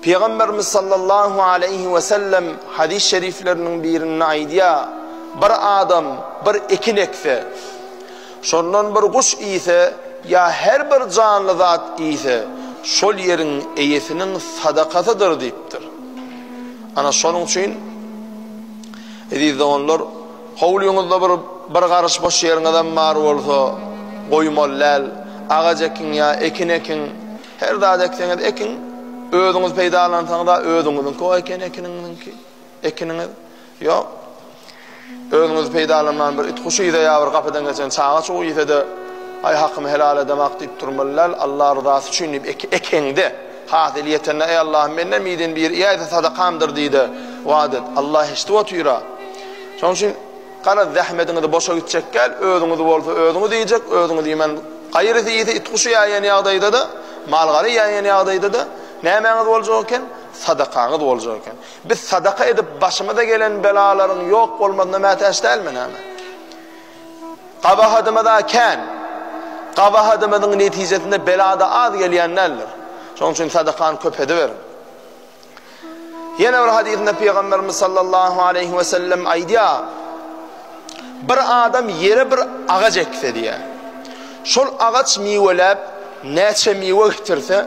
Pygamberimiz sallallahu aleýhi we sellem hadys şerifleriniň birinde aýdýar, Bir adam bir ekin ekse, şondan bir guş iýse ýa her bir janly zat iýse, şol ýeriň eýesiniň sadakasydyr diýipdir. Ana şonuň üçin eziz doganlar, howlyňyzda bir bir garyş boş ýeriňizem bar bolsa, goýmaly däl, agaç ekiň ýa ekin ekiň. Her zady ekseňiz ekiň, özüňiz peýdalansaňyz-a özüňiziňki-o eken ekiniňiziňki, ekiniňiz. Ýok. Özüňiz peýdalanman bir it guşy ýa bir gapydan geçen çaga çugy ýese-de, aý hakymy helal edemok diýip durmaly däl, Allah ryzasy üçin diýip ekeňde, hasyl ýetende eý Allahym menden birden biri iýäýse sadakamdyr diýde wada et. Allah eşidip otyr-a. Şonuň üçin Garaz, zähmediňiz boşa gitjek däl, özüňiz bolsa özüňiz iýjek, özüňiz iýmän, gaýrysy iýse, it-guşy ýaýan ýagdaýda-da, mal-gara ýaýan ýagdaýda-da nämäňiz boljak eken? Sadakaňyz boljak eken. Biz sadaka edip, başymyza gelen belalaryň ýok bolmazyna mätäç dälmi näme? Gabahatymyz-a kän. Gabahatymyzyň netijesinde bela-da az gelýän däldir. Şonuň üçin sadakany köp ediberiň. Ýene bir hadysynda Pygamberimiz sallallahu aleýhi we sellem aýdýar, Bir adam ýere bir agaç ekse diýýär. Şol agaç miweläp, näçe miwe getirse,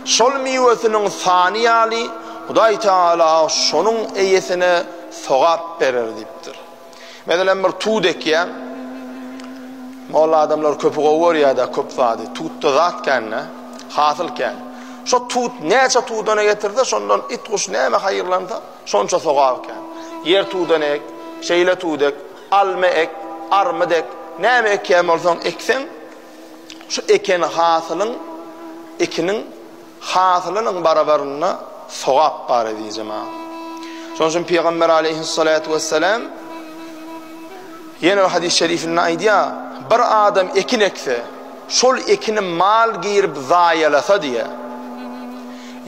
şol miwesiniň sany ýaly Hudaý Taala şonuň eýesine sogap berer diýipdir. Meselem bir tut ekýäň. Molla adamlar köpi gowy görýärdi, köp zady. Tutda zat kände, hasyl kän. Şo tut näçe tudana getirse, şondan it guş näme haýyrlansa, şonça sogap kän. Ýer tudan ek, şeýle tut ek, alma ek, armyt ek, näme ekýän bolsaň ekseň, şu eken hasylyň, ekiniň Hasylynyň barabarynda sogap bar ezizi maal. Şonuň üçin Pygamber aleýhissalatu wessalam ýene bir hadys şerifinde aýdýar, bir adam ekin ekse, şol ekini mal girip zaýalasa diýe,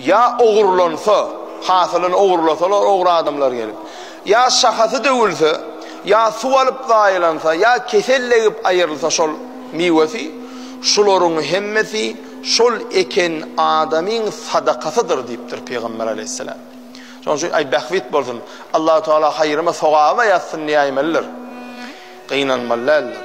ýa ogurlansa, hasylyny ogurlasalar ogry adamlar gelip, ýa şahasy döwülse, ýa suw alyp zaýalansa, ýa kesel degip aýrylsa şol miwesi, şularyň hemmesi Şol eken adamyň sadakasydyr diýipdir Pygamber Aleýhisselam. Şonuň üçin aý bähbit bolsun, Allahu Teala haýryma sogaba ýazsyn diýäýmelidir. Gynanmaly däldir.